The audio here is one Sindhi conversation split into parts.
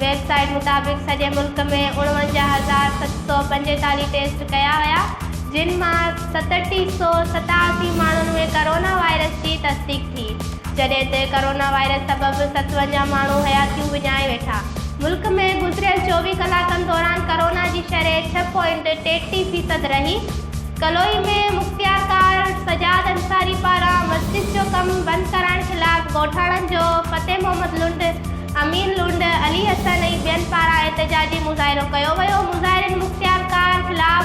ويب سائيٽ مطابق سڄي ملڪ ۾ اڻونجاهه هزار ست سؤ پنجيتاليهه ٽيسٽ ڪيا ويا جن مان ستٽي سؤ ستاسي ماڻهن ۾ ڪورونا وائرس جي تصديق ٿي جڏهن ته ڪورونا وائرس سبب ستونجاهه ماڻهو حياتيون وڃائي ويٺا ملڪ ۾ گذريل چوويهه ڪلاڪن دوران ڪورونا جي شرح ڇهه پوائنٽ ٽيٽي فيصد رهي ڪلوئي ۾ مختيارڪار سجاد انصاري پاران مسجد جو ڪم بند ڪرائڻ خلاف ڳوٺاڻن جو فتح محمد لنڊ امير لنڊ، علي حسن ۽ ٻين پاران احتجاجي مظاهرو ڪيو ويو، مظاهرين مختيار ڪار خلاف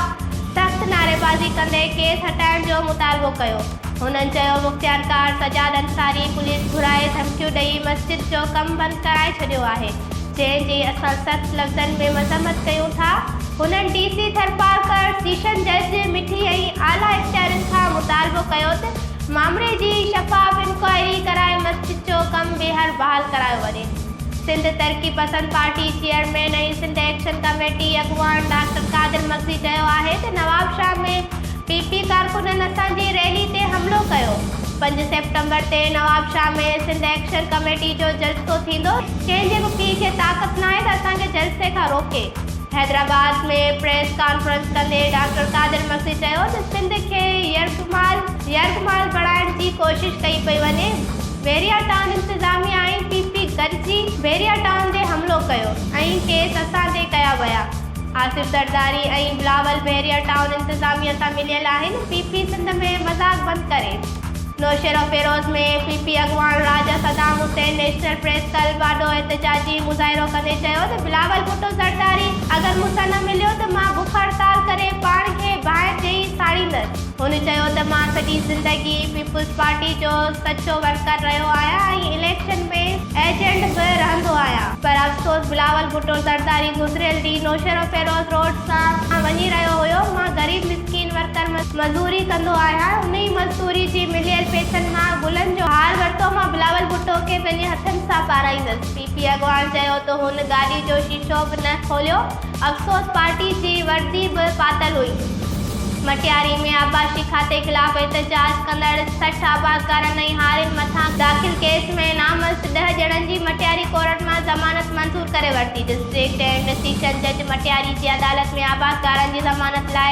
سخت نعريبازي ڪندي ڪيس هٽائڻ جو مطالبو ڪيو، هنن چيو مختيار ڪار سجاد انصاري پوليس گهرائي ڌمڪيون ڏئي مسجد جو ڪم بند ڪرائي ڇڏيو آهي، جنهن جي اسان سخت لفظن ۾ مذمت ڪيون ٿا، هنن ڊي سي ٿرپارڪر، سيشن جج، مٺي ۽ اعليٰ اختيارين کان مطالبو ڪيو ته معاملي جي شفاف انڪوائري ڪرائي مسجد جو ڪم ٻيهر بحال ڪرايو وڃي. Sindh Taraqi Pasand party chairman ۽ Sindh action committee اڳواڻ ڊاڪٽر قادر مگسي چيو آهي ته نوابشاهه ۾ پي پي ڪارڪنن اسان جي ريلي تي حملو ڪيو، پنج سيپٽمبر تي نوابشاهه ۾ سنڌ ايڪشن ڪميٽي جو جلسو ٿيندو، ڪنهن جي به پيء کي طاقت ناهي ته اسان کي جلسي کان روڪي، حيدرآباد ۾ پريس ڪانفرنس ڪندي ڊاڪٽر قادر مگسي چيو ته سنڌ کي يرغمال. مال يرغ مال بڻائڻ جي ڪوشش ڪئي پئي وڃي، بحريا ٽائون انتظاميا ۽ پي پي گڏجي بحريا ٽائون تي حملو ڪيو ۽ ڪيس اسان تي ڪيا ويا، آصف زرداري ۽ بلاول بحريا ٽائون انتظاميا سان مليل آهن، پي پي سنڌ ۾ مذاق بند ڪري، نوشهروفيروز ۾ پي پي اڳواڻ Raja Saddam Hussain national press club آڏو احتجاجي مظاهرو ڪندي چيو ته. بلاول ڀٽو زرداري اگر مون سان نه مليو ته مان بک هڙتال ڪري پاڻ کي باهه ڏئي ساڙيندس. هن چيو ته مان سڄي زندگي پيپلز پارٽي جو سچو ورڪر رهيو آهيان ۽ اليڪشن ۾ ايجنٽ به رهندو آهيان. پر افسوس بلاول ڀٽو زرداري گذريل ڏينهن نوشهروفيروز روڊ سان وڃي رهيو هيو، مان غريب مسڪين ورڪر مزوري ڪندو آهيان، انهي مزدوري جي مليل پئسن مان گلن جو هار ورتو، مان بلاول ڀٽو کي پنهنجي هٿن سان پارائيندس. پي پي اڳواڻ چيو ته هن گاڏي جو شيشو به نه کوليو، افسوس پارٽي جي وردي به پاتل هئي. مٽياري ۾ آبپاشي کاتي خلاف احتجاج ڪندڙ سٺ آبادگارن ۽ هارين مٿان داخل ڪيس ۾ نامزد ڏهه ڄڻن جي مٽياري ڪورٽ مان ضمانت منظور ڪري ورتي، ڊسٽرڪٽ اينڊ سيشن جج مٽياري جي عدالت ۾ آبادگارن جي ضمانت لاء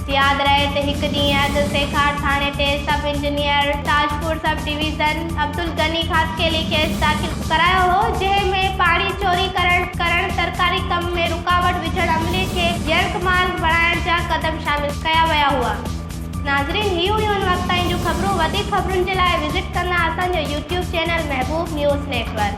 ياد رهي ته هڪ ڏينهن اڳ سيکار ٿاڻي تي sub engineer Tajpur sub division Abdul Ghani Khaskheli case داخل ڪرايو هو جنهن ۾ پاڻي چوري ڪرڻ ڪرڻ سرڪاري ڪم ۾ رڪاوٽ وجهڻ عملي کي يرغمال بڻائڻ جا قدم شامل ڪيا ويا هئا ناظرين هي هيون ان وقت تائين جون خبرون وڌيڪ خبرن جي لاء وزٽ ڪندا اسان جو YouTube channel Mehboob news net work.